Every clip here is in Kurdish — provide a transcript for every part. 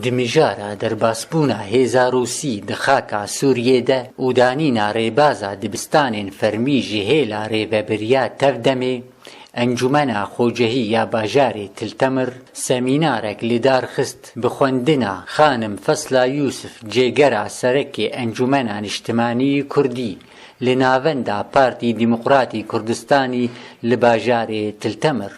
Di mijara derbasbûna hêza Rûsî di xaka Sûriyê de û danîna rêbaza dibistanên fermî ji hêla rêvebiriya tev demê, Encûmena Xocehî ya Bajarê Til Temir semînarek li dar xist bi xwendina Xanim Fesla Yûsif Cêgera Serekê Encûmena Niştimanî Kurdî li Navenda Partî Dîmoqratî Kurdistanî li Bajarê Til Temir.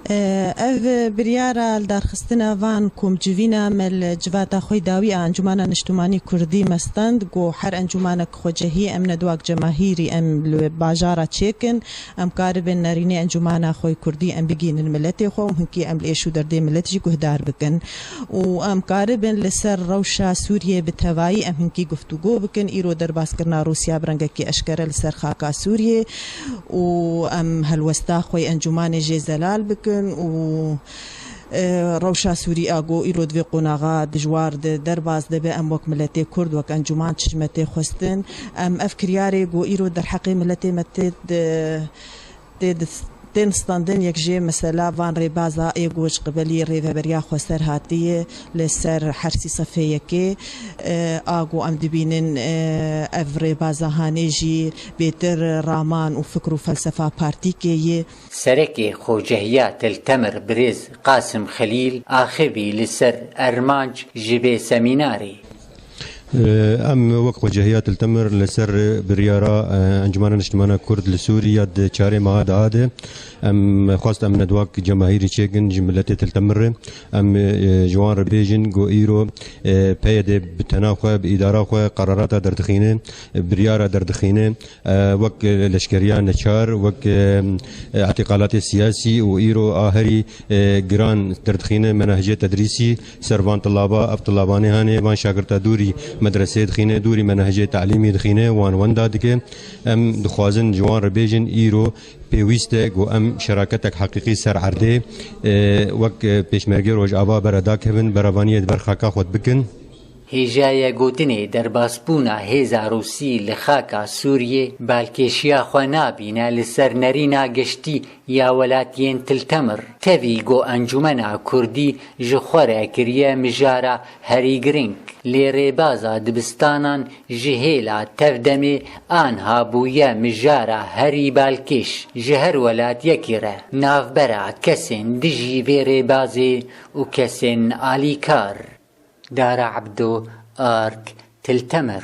Ev biryara li darxistina van komcivîna me li civata xwe dawî a Encûmana Niştimanî Kurdî me stend ku her encûmanek xwecihî em ne duak cemahîrî em li wê bajara çêkin em karibin nerînê encûmana xwe kurdî em bigihînin miletê xwe û hinkî em li êş û derdê milet jî guhdar bikin û em karibin li ser rewşa Sûriyeyê bi tevayî em hinkî guftûgo bikin îro derbaskirina Rûsya bi rengekî eşkere li ser xaka Sûriyê û em helwesta xwe yê encûmanê jê zelal bikin û rewşa sûrî a ku îro di vê qonaxa dijwar de derbas dibe em wek miletê kurd wek encûman çişme tê xwestin em ev kiryarê ku îro derheqê miletê me tê tên standin yek jê mesela van rêbaza ê ku ji qibelî Rêveberiya Xweser hatîye Li ser her sî sefheyekê a ku em dibînin ev rêbaza hanê jî bêtir raman û fikr û felsefa partîkê ye. Serekê Xocehiya Til Temir Birêz Qasim Xelîl axivî li ser Ermanc ji vê semînarê. Em wek xwecihêya Tiltemir li ser biryara Encumena Niştimana Kurd li Sûrî ya di çarê meha daha de em xwest em nedwak cemahîrî çêkin ji miletê Tiltemir re. Em ji wan re bêjin ku îro PYD bi tena xwe, bi îdara xwe qerarata derdixîne, biryara derdixîne. Wek leşkeriya neçar, wek îtîqalatê siyasî û îro a herî giran derdixîne menehicê tedrîsî. Servan Tilaba, Ev tilabanê hene, van şagirta dûrî medreseyê dixîne, dûrî me nehcê telîmî dixîne, wan wenda dike. Em dixwazin ji wan re bêjin îro pêwîst e ku em şeraketek heqîqî ser erdê wek pêşmergeyê Rojava bere dakevin, beravaniyê di ber xaka xwe de bikin. Hêjayê gotinê derbasbûna hêza Rûsî li xaka Sûriyê balkêşiya xwe nabîne li ser nerîna geştî Ya welatiyên Tiltemir tevî ku Encûmena Kurdî ji xwe re kiriye mijara herî girîng, lê rêbaza dibistanan ji hêla tev demê anha bûye mijara herî balkêş ji her welatiyekî re. Navbera kesên dijî vê rêbazê û kesên alîkar. Dara Ebdo, ark, Tiltemir.